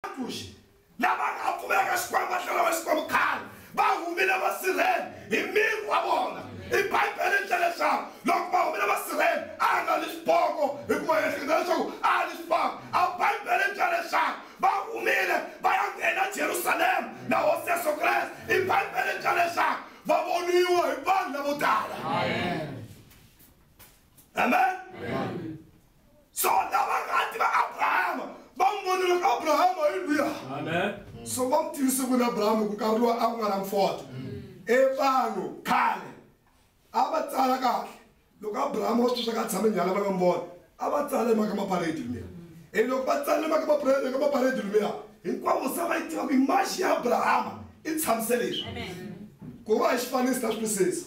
Vakuxi lava nga ha pfumelaka Xikwembu va tlhela va Xikwembu khale va humile vasirheni hi miri wa vona. I Bibele ri tlhela leswaku loko va humile vasirheni a a nga ni swipoko hikuva hi ehleketa leswaku a a ni swipoko. A Bibele ri tlhela leswaku va humile va ya nghena Jerusalema na Hosi Yesu Kreste. I Bibele ri tlhela leswaku va voniwa hi vanhu lavo tala. Amen. Amen. Amen. Sona varhati va Abrahama va n'wi vona loko Abrahama hi luya. Amen. So va n'wi tivise ku na Abrahama ku karhi lowa a ku nga na mfoto. E vanhu khale a va tsala kahle loko Abrahama va sweswi ka tshame nyala va nga mbona a va tsala mhaka maparedi luya. E loko va tsala mhaka maparedi ka maparedi luya hinkwavo se va yi tiva ku yi maxi ya Abrahama i tshamisele leswi. Ku va hi xifaniso ta swisisa.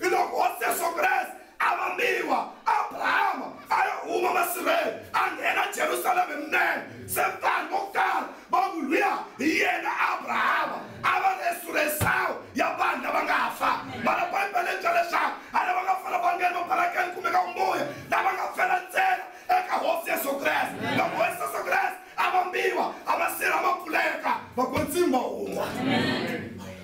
Hiloko Hosi Yesu Kreste a vambiwa, Abrahama a ya huma masirheni a nghena Jerusalema hi minenge. Se vanhu vo tala va ku, Luya hi yena Abrahama. A va ri esuresawu ya vanhu lava nga fa. Mara Bibele yi byela leswaku a lava nga fela va nghene mabalakeni kumbe ka vumbuya, lava nga fela ntsena eka Hosi Yesu Kreste. Loko Hosi Yesu Kreste Abambiwa abasira makuleka vakwe ntsimba wun'wa.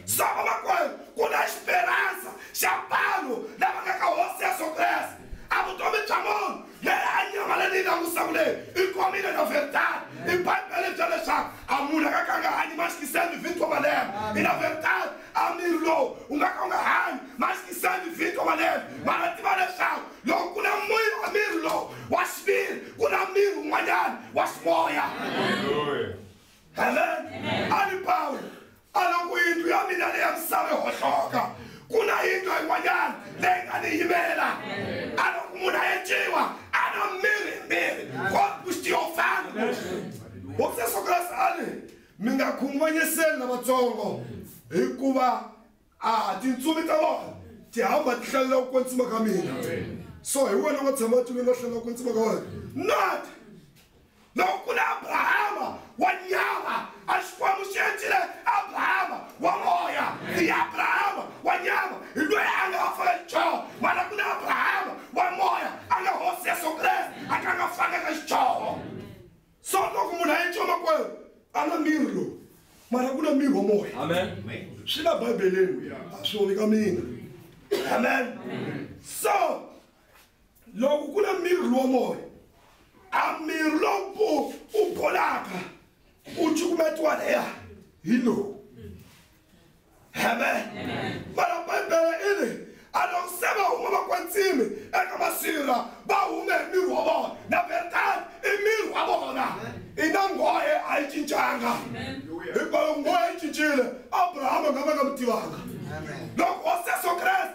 So vamakwerhu, ku na xiperansa xa vanhu lava nga ka Hosi Yesu Kreste. A vutomi bya munhu leyi a nyamala ni yi langusa ku leyi i komile na veritadi. I Bibele bya leswaku a munhu a nga ka a nga hanyi maxiki 7 vhiki wa malembe. I na veritadi, a miri lowu wu nga ka wu nga hanyi maxiki 7 vhiki wa malembe, mara tiva leswaku loko ku na moya wa miri lowu wa xiviri ku na miri wun'wanyana wa ximoya amen a ri pawulo a loko yindlu ya mina leya misava yi hohloka ku na yindlu yin'wanyana leyi nga ni yimela a loko munhu a yetiwa a na miri miri kokuxitiyofana hofisa sokrasi a ri mi nga khunguvanyiseli lavatsongo hikuva a tintsumi ta vanhu ti hamba ti hlalela ku kwetsima ka mina so hi wena wa tshama tuni nga hlalela ku kwetsima ka wena not loko ku na abrahama wa nyama a xikwembu xi endlile abrahama wa moya i abrahama wa nyama hi loyi a nga va fana xichava mana ku na abrahama wa moya a nga hosi yesu kreste a ka nga fanaka xichava so loko munhu a yetiwa makwerhu a na miri lowu mara ku na miri wa moya amen swi la bibeleni a swi voni ka mina amen so loko ku na miri lowa moya a miri lowu u bolaka u cukumetiwa leya hi lowu amen mara bibele i ri a loko se va huma va kwantsimi eka masirha va hume hi miri wa vona na betani i miri wa vona i na nghohe a yi cincanga hikwalaho nghohe yi cincile abrahama nga va nga mi tivanga loko hosi yesu kreste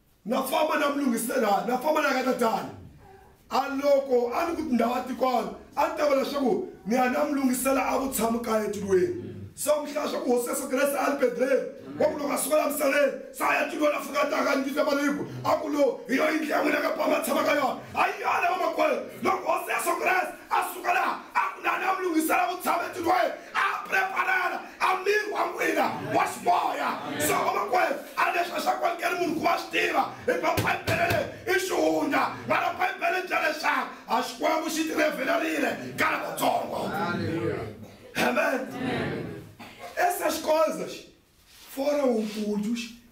na famba na mulungiselani na famba na ka tatana a loko a ni ku tindhawu a tikwana a ni ta va leswaku ni ya na mulungisela a vutshamo kaya etilweni so mihla swa ku hosi yesu kreste a libedleni wa ku loko a suka la misaveni se a ya tilweni a fika a taka a ni vita maliku a ku lo hi yo yindlu ya n'wina ka pama tshama ka yona a yi yona vamakwerhu loko hosi yesu kreste a suka laha a ku na na mulungisela vutshamo etilweni a preparela a miri wa n'wina wa ximoya so vamakwerhu a leswi a swa kwalukeli munhu ku va swi tiva hikuva bibele leyi i xihundla vana bibele bya leswaku a xikwembu xi tirhevhelerile ka lavatsongo amen esa xikonza xi fora wukulu xi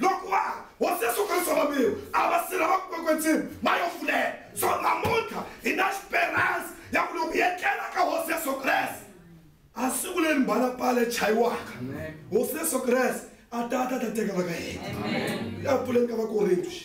Loko wa ha Hosi Yesu Kristo vambirhi a va si lava ku kwekwendzima ma yo fulela. So namuntlha hi na xiperansi ya ku loko hi etlela ka Hosi Yesu Kreste a siku leri mbalapala yi chayiwaka Hosi Yesu Kreste a ta ta ta teka va ka hina. Ya pfuleni ka Vakorintu xi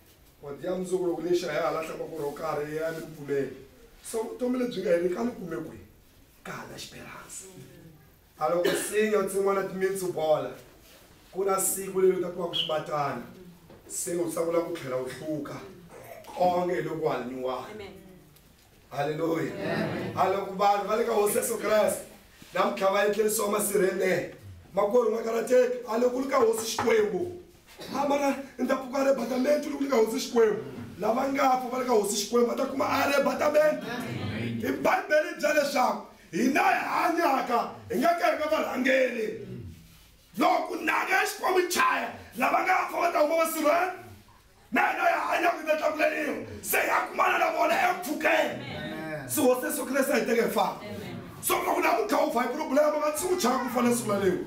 wadi ya mundzuku loko ni xaya hala tlanga ku ro karhi ya ni ku pfumela so vutomi lebyi nga heri ka ni kume kwihi ka hala xiperansi a loko sinya u tsin'wana timitsu bola ku na siku leri u ta kuma ku swibatana se u tsakula ku tlhela u hluka konge hi loko hanyiwaka halleluya a loko vanhu va le ka hosi yesu kreste namuntlha va etlelisiwa masirhele makwerhu nga karateki a loko li ka hosi xikwembu a mana ni ta pfuka aribhatamenti loko li ka hosi xikwembu lava nga fa va le ka hosi xikwembu va ta kuma aribhatamenti i bibele bya leswaku hina hi hanyaka hi nga ka hi nga varhangeli loko nanga ya xikwembu chaya lava nga fa va ta huma masirhele na yena ya hanyaka yi ta tlakuleriwa se ya kumana na vona epfukeni se hosi yesu kreste a yi teke hi fana so loko na ku khawufa hi problema va tshiku chaka ku fanele siku lalewu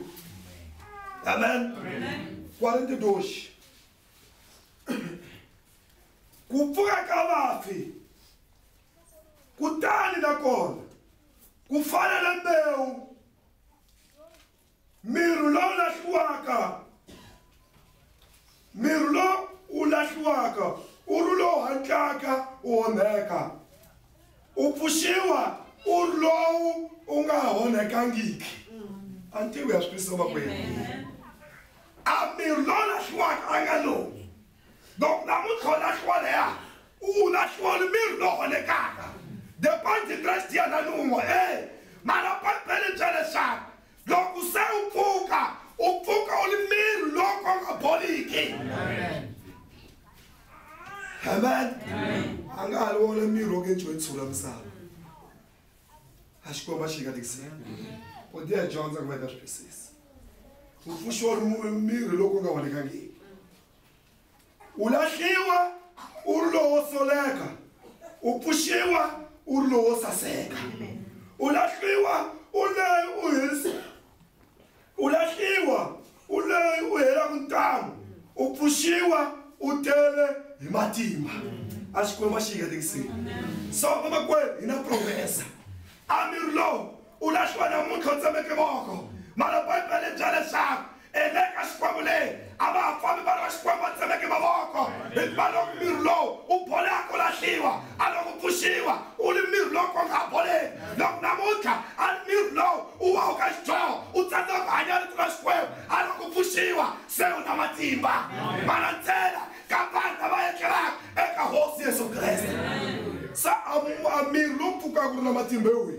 amen kwari ndi doxi ku pfuka ka vafi kutani nakona ku fana na mbewu Mirhu lowu lahliwaka. Mirhu lowu wu lahliwaka u ri lowu hatlaka u onheka, u pfuxiwa u ri lowu u nga onhekangiki. A ntivo ya swi twisisa vakwenu. A mirhi lowu lahliwaka a nga lowu. loko namuntlha u lahliwa leya u lahliwa ni miri lowu holekaka the point interest ya na nun'we e mara bibele bya leswaku loko se u pfuka u pfuka u ni miri lowu ka nga boliki amen a nga ha ri wona miri wo ke ntswentshula misava a xikwembu a xi nga tikisela u ti ya dyondza ku va ta swi twisisa u pfuxiwa miri loko u nga vonekangiki u lahliwa u ri lowo soleka u pfuxiwa u ri lowo saseka u lahliwa u leyi u hirisa U lahliwa u loyi u helaku ntamu, u pfuxiwa u tele hi matimba. A Xikwembu a xi hi hetisile. So vamakwerhu hi na profesa Amir lowu u lahliwa namuntlha u tsemeke voko, mara Bibele yi byela leswaku endleka Xikwembu leyi A va ha fambi va ri na xikwembu a tsemeke mavoko, hikuva loko miri lowu u bolaka u lahliwa, a loko u pfuxiwa u ri miri lowu ka wu nga ha boleki. Loko namuntlha a ri miri lowu u waku ka xidyoho u tsandzeka ku hanya rifu ra Xikwembu, a loko u pfuxiwa se u na matimba. Malantsela ka vanhu lava etlelaka eka Hosi Yesu Kreste. Sa, a miri lowu pfukaka u ri na matimba hi wihi?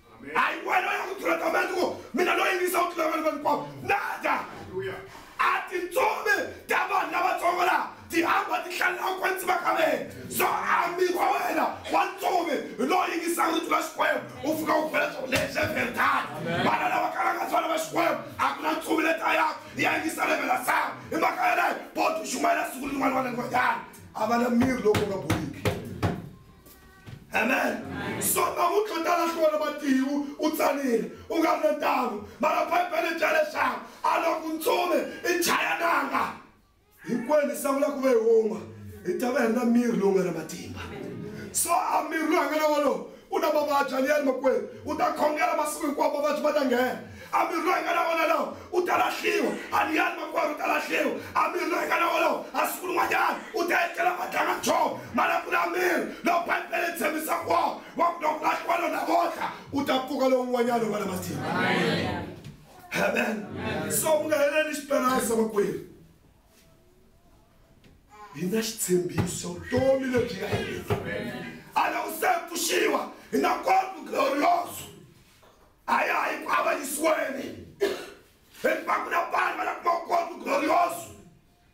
hayi wena u ya ku tlula tamani ku mina loyi ni yisa u tlula vanhu vanikwawo nada a tintsumi ta vanhu lavatsongo laha ti hamba ti hlalela kwentsi va ka vena so ambi wa wena wa ntsumi hi lowu yingisaka ri tlula xikwembu u fika u bela swo leswi verdad vana lava kalaka tswana va xikwembu a ku na ntsumi leta yako ya yingisa levela sava hi mhaka yaleyo bodi u xumayela siku rin'wana wa nangoyana a va na miri lowu nga boliki amen so namuntlha u tala hlona matiwu u tsanile u nga ri na ntangu mara bibele bya leswaku a loko ntsumi i chayananga hinkwenu hi sangula ku va hi wun'we hi ta va hi ri na miri lowu nga na matimba so a miri lowu nga na wolowo u na mavabyi a ni ya ri makwenu u ta khongela masiku hinkwawo mavabyi ma ta nghena A miri loyi a nga na wona lowo u ta lahliwa. A ni yali makwerhu u ta lahliwa. A miri loyi a nga na wona lowo a siku rin'wanyana u ta etlela madlangantshovo ma la kula miri lowu Bibele yi tshembisaka wona wa ku loko ku lahliwa lowu namuntlha u ta pfuka lowun'wanyana u va na matimba. Amen. So ku nga heleli xitarasa makwerhu hi na xitshembiso vutomi lebyi nga heleli a loko se pfuxiwa hi na korpo glorioso a ya ha yi ku avanyisiweni hikuva ku na vanhu va la kuma vukorhokeri glorioso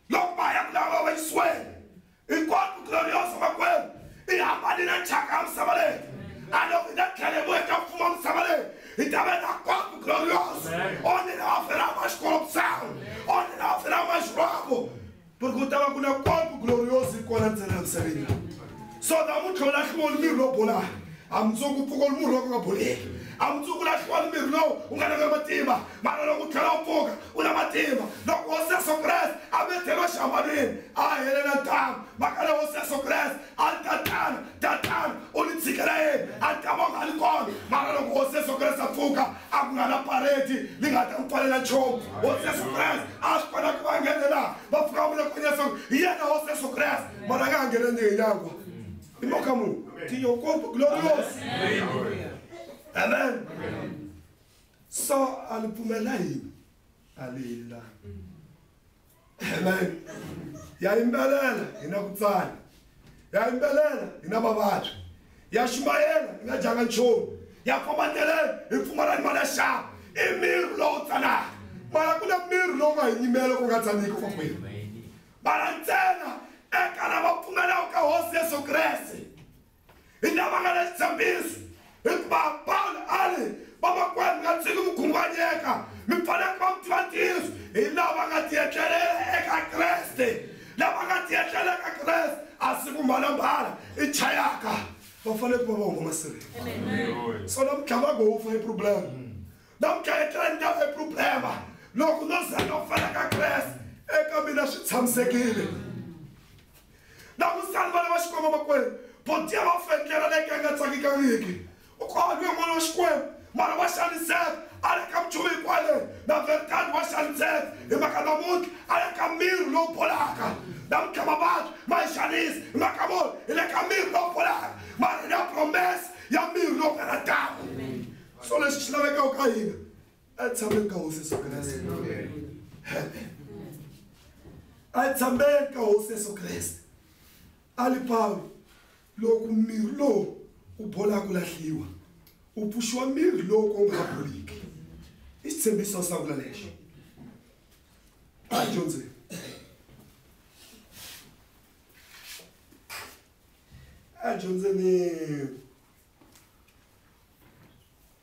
loko va ya ku lava avanyisiweni hinkwaku glorioso vakwenu i hambanile thyaka ya misava leyi a loko hi nga tlhele hi vuya ka mfumo wa misava leyi hi ta va na kwaku glorioso only na vafela va xikolo misava only na vafela va xirhwavo ku ri ku ta va ku na kwampu gloriosi yi kona ntsena emisaveni so ta mu tlhola hliwo ni mirhi lowu bolaka a mundzuku pfuko ni murhi lowu nga boleki a mundzuku la hliwo ni mirhi lowu u nga nanga matimba mara loko u tlhela u pfuka u na matimba loko hosi yesu kreste a mi tlhelo xihambanweni a helela ntamu maka le hosi yesu kreste A ri, Tatana, Tatana, u ni tshikela yini? A ni ta va u nga ri kona. Mara loko Hosi Yesu Kreste a pfuka, a ku nga na paredi li nga ta ku pfalela nchumu. Hosi Yesu Kreste a a swi kota ku va nghenela. Va pfuka va vula kunene leswaku hi yena Hosi Yesu Kreste, mara a nga ha nghenangi hi nyangwa. Hi mhaka muni? Tiyo ngopfu, glorious. Amen. So a li pfumela yini? A li helelangi. Amen. Ya yimbelela hi na ku tsana. Ya yimbelela hi na mavabyi. Ya xumayela hi nga dyanga nchumu. Ya famba ndleleni hi pfumala ni mali ya xava. I miri lowu tsanaka. Mara ku na miri lowu nga hi nyimela ku nga tsaniki kwa kwihi. Mara ntsena eka lava pfumelaka ka hosi Yesu Kreste. hi lava nga na xitshembiso hikuva pawulo a ri vamakwerhu mi nga tshiki mi khunguvanyeka mi fanele ku va mi tiva ntiyiso hi lava nga tiyetlelela eka kreste lava nga tiyetlela eka kreste a siku mbalambala i chayaka va fanele ku va va huma masirheni so namuntlha va ngo wu fa i problem namuntlha etlelani ta i problema loko no zanga u fanaka kreste eka mina swi tshamisekile Langutani vana va Xikwembu makwerhu. Buti a va fendlela leke a nga tsakekangiki. U kohanyiwe n'wana wa Xikwembu, mara wa xaniseka. A ri eka minchumu hinkwayo leyi, na veritani wa xaniseka. Hi mhaka namuntlha a ri eka miri lowu bolaka. Namuntlha mavabyi ma hi xanisa. Hi mhaka muni? Hi le ka miri lowu bolaka, mara hi na promese ya miri lowu karhataka. So lexi xi lavekaka ka hina a tshameni ka hosi yesu kreste a tshameni ka hosi yesu kreste a li pawulo loko miri lowu u bola ku lahliwa u pfuxiwa miri lowu ko nga boliki i xitshembiso xa vula lexo a dyondzeni a dyondzeni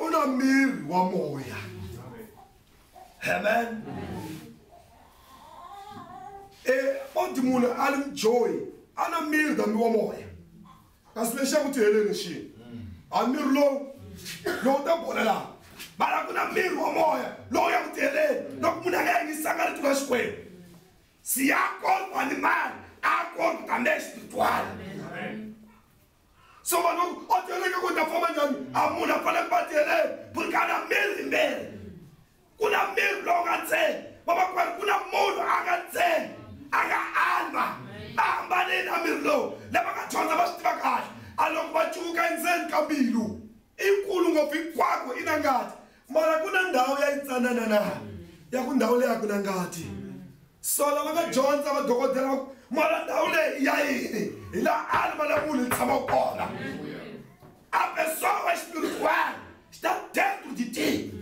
u na miri wa moya amen e oti munhu a ri mjoyi a na miri kambi wa moya kasi lexi ya ku ti heleni xini a miri lowu lowu ta bola laha mara ku na miri wa moya lowu ya ku ti heleni loko munhu a nga yingisanga rito ra xikwembu siya korku animali a korku kambe espirituali so vanhu o tieleke ku ta famba njhani a munhu a fanele ku va tieleni buri ka na miri hi miri ku na miri lowu nga ntsena vamakwerhu ku na munhu a nga ntsena a nga alva va hambanile a miri lowu lava nga dyondza va swi tiva kahle a loko va cuvuka endzeni ka mbilu i kulu ngopfu hinkwako i na ngati Mara ku na ndhawu ya yitsanana na ya ku ndhawu leyi a ku na ngati. So lava nga dyondza vadokodela va ku mara ndhawu leyi ya yini hi laha alima la munhu yi tshama kona. A pessoa vai espiritual está dentro de ti.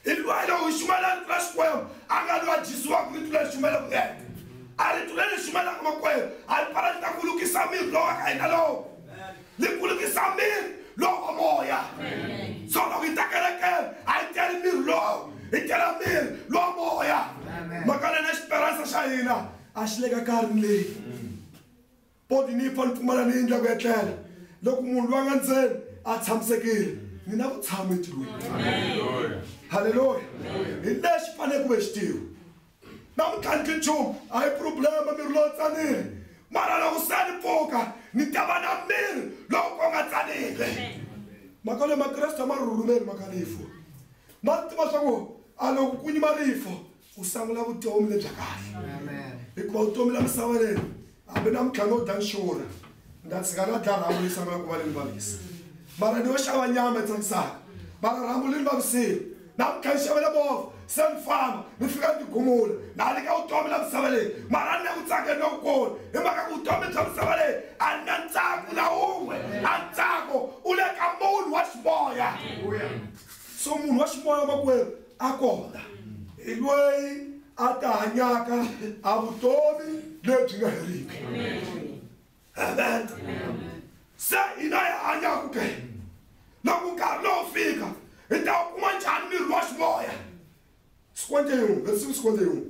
Hi lwayi lowu hi xumelaka tlula Xikwembu a nga lwa Jisiwaka ritu leri xumelaka yena. A ritu leri hi xumelaka makwerhu a ri pfala ri ta ku lukisa miri lowu wa ka hina lowu. ni kulukisa miri lowo moya so loko yi ta kerekeni a yi teli miri lowu yi tela miri lowo moya mhaka lena xiperansa xa hina a xi le ka karhini leyi poti ni yi fa ni pfumala ni yindla ku etlela loko munhu loyi a nga ndzeni a tshamisekile ni na vutshamo etilweni halleluya hi lexi fanele ku ve xi tiwa Na mi tlhandli nchumu, a hi phuroblema, miri lowo tsanile. Mara loko se ni pfuka, ni ta va na miri lowu ko nga tsanile. Mhaka leyi Makreste a ma ri rhurhumeli mhaka rifu. Ma ri tiva swa ku a loko ku nyima rifu, u sangula vutomi lebya kahle. Hikuva vutomi la misava leyi Hambi na mutlangi o Dan Shura nda tshika na dla rhambu leyi tshamaka ku va leyi vavisa mara ni yo xava nyama tsakisaka mara rhambu leyi vavisile na ku kha ni xavela movha se ni famba ni fika ni tigumula na nyika vutomi la misava leyi mara ni na ku tsaka ni lokukulu hi mhaka ku vutomi bya misava leyi a ni na ntsako na wun'we a ntsako u le ka munhu wa ximoya so munhu wa ximoya makwerhu a kona, hi loyi a ta hanyaka a vutomi lebyi nga heriki. Amen. Se hina hi hanyaka ke loko nkarhi lowu fika hi ta wu kuma njhani miri wa ximoya sikwende yin'we leswi sikwende yin'we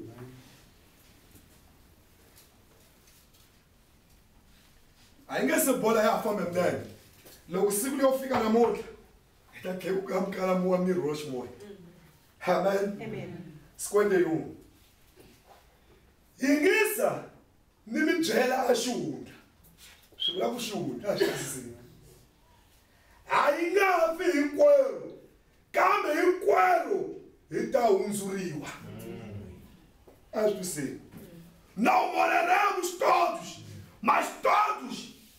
a yi nge se bola ya ha fambe milenge loko siku leyo fika namuntlha hi ta tlhekuka ha mukalamu wa miri wa ximoya amen sikwende yin'we yingisa ni mi byela a xihundla swi vula ku xihundla a xi sisini a yi nga fi hinkwerhu kambe hinkwerhu hi ta hundzuriwa a swi twiseni não moraremos todos mas todos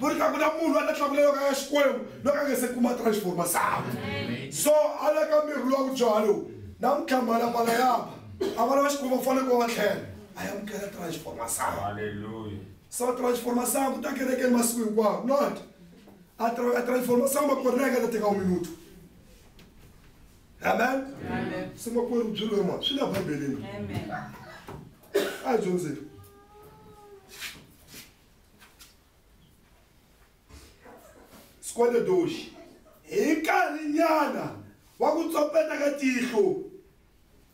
ku ri ka ku na munhu la ta tlakulelaka ya xikwembu loko a nga se kuma transforma sakwe so a la ka miri lowa vudyuha lowu na mukhamala pala yaba a vana va xikwembu va fanele ku va tlhela a ya mukela transforma sakwe so transforma sakwe ta kerekeni masiku hinkwawo not a transforma sakwe makwerhu na eka ta teka uminutu amen se makwerhu byi lwe mona swi la bibeleni a hi dyondzeni skweledoxi hi nkarhi nyana wa ku tsopeta ka tihlo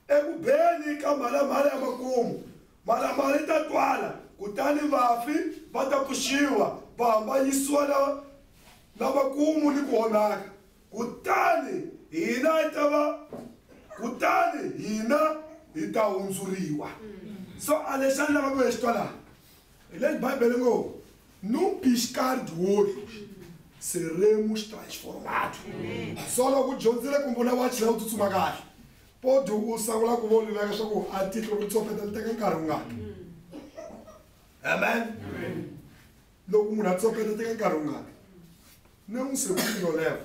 eku beni ka mhalamhala ya makumu mhalamhala yi ta twala kutani vafi va ta pfuxiwa va hambanyisiwa na na makumu ni ku onhaka kutani hina yi ta va kutani hina hi ta hundzuriwa so a lexi a ni lava ku ya xi twalaka hi le bibele ngo num piscar de olhos seremos transformados so loko u dyondzile kumbe u na wachi la u tsutsuma kahle podi u sangula ku voluleka leswaku a tihlo ri tsofeta li teka nkarhi wungani amen loko munhu a tsofeta teka nkarhi wungani na n'wi sekuyoleva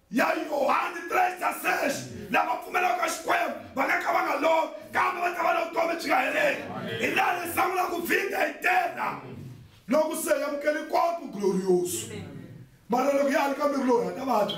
ya Yohani 3:6 lava pfumelaka Xikwembu va nga ka va nga lovi kambe va ta va na vutomi byi nga heriki hi laha leswaku la ku vhinda hi tena loko se hi amukele kwambu glorioso mara loko ya ha ri ka miri loyi ha ta vabya